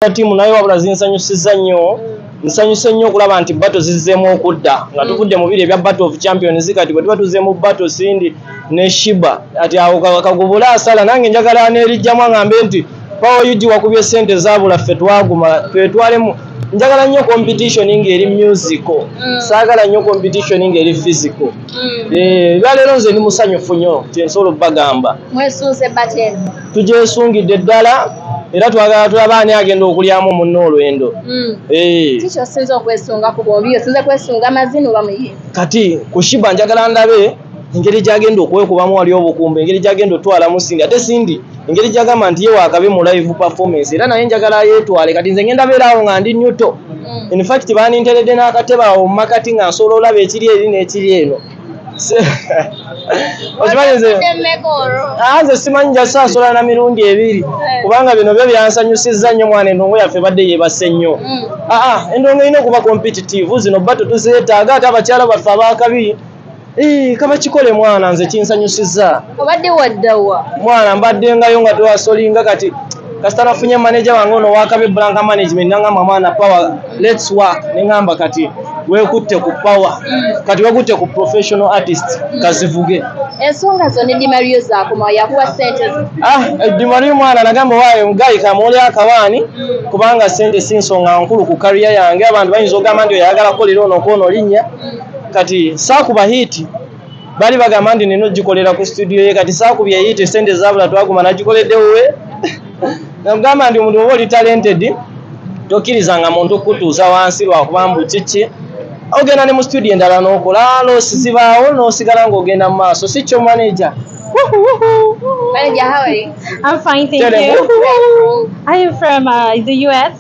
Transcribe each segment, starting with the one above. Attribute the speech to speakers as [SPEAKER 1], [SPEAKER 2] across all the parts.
[SPEAKER 1] na tiimu naye wabula zinsanyusizza nnyo nsanyuse nnyo okulaba nti bato zizzeemu okudda nga mm. tuvudde mu biri ebya battle of champions kati bwe tuba tuzze mu bato sindi ne shiba ati awo kagubula asala nange njagala nerijjamu aŋambe nti pawa yugi wakubye ssente zaabula ffe twaguma twetwalemu njagala nnyo competition ng'eri musical mm. saagala nnyo competition ng'eri physical mm. eh, ebya leero nze ndi musanyufu nnyo kyensobola okubagamba mwesunze bateni
[SPEAKER 2] tugyesungidde
[SPEAKER 1] ddala era twagala tulaba ani agenda okulyamu munna olwendo hmm. eh.
[SPEAKER 2] kati kushiba
[SPEAKER 1] njagala ndabe engeri gyagenda okwekubamu wali obukumba engeri gyagenda otwalamu sindi ate sindi engeri gyagamba nti ye wakabe mu live performance era naye njagala yetwale kati nze ngenda beeraawo nga ndi nyuto hmm. infact baninteredde n'akatebe awo mu makati nga nsobola olaba ekiri eri n'ekiri eno okimanyi nze ah, nze simanyi jasasola na mirundi ebiri eh. kubanga bino byo byansanyusizza nnyo mwana endongo yaffe badde yebase nnyo mm. aa ah, ah, endongo erina okuba competitive zino bato tuzeetaaga ate abakyala baffe abakabi eh, kaba kikole mwana nze kinsanyusizza obadde waddawa
[SPEAKER 2] mwana mbadde
[SPEAKER 1] ngayo nga twasolinga kati kasita nafunye maneja wange ono wakabi blanka management nangamba mwana power Let's work ne ngamba kati wekutte ku power mm. kati wekutte ku professional artist mm. kazivuge ensonga zo
[SPEAKER 2] ne dimario zakoma yakuwa sente ah eh, dimario
[SPEAKER 1] mwana nagamba waayo mugayi kamuuli akawaani mm. kubanga sente si nsonga nkulu ku kariya yange abantu bayinza ogamba nti oyagala kolera ono kwono linnya mm. kati saakuba hiiti bali bagamba nti nina ogikolera ku studio ye kati saakubye eyiite sente zabula twaguma nagikoledde wuwe namugamba nti omuntu oba oli talented tokkiriza nga muntu kukutuuza wansi lwakuba mbu kiki ogenda ne mu studio endala nokola losi zibaawo nosigala ngaogenda mu maaso si kyo manaja
[SPEAKER 2] Manager, how are you? I'm fine, thank
[SPEAKER 3] Tell you. Them. Are you from uh, the US?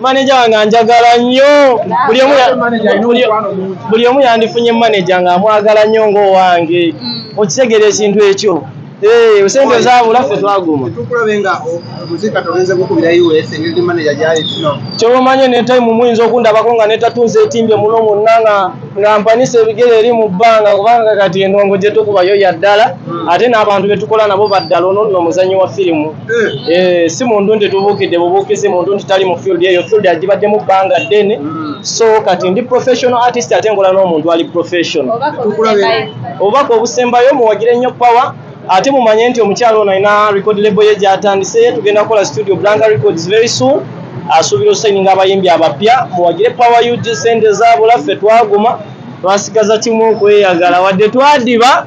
[SPEAKER 1] maneja wange anjagala nnyo buli omu yandifunye maneja nga amwagala nnyo ngaowange mm. okitegera ekintu ekyo eh, sente zabula ffe twaguma
[SPEAKER 4] kyobamanye netayimu
[SPEAKER 1] muyinza okundabako nga netatunza etimbye muno munna nga nga mpanisa ebigere eri mu bbanga kubanga kati endongo gyetukubayo yaddala mm. ate n'abantu betukola nabo baddala ono nno omuzanyi wa firimu Eh, si muntu nti tubuukidde bubuukizi muntu nti tali mu field eyo field agibaddemu bbanga ddene so kati ndi professional artist ate nkola n'omuntu ali professional obubaka obusembayo muwagire nnyo power ate mumanye nti omukyalo ono alina record label ye gyatandise ye tugenda kukola studio blanga records very soon asuubira osayininga abayimbi abapya muwagire power ug sente zaabula ffe twaguma twasigaza kimu okweyagala wadde twadiba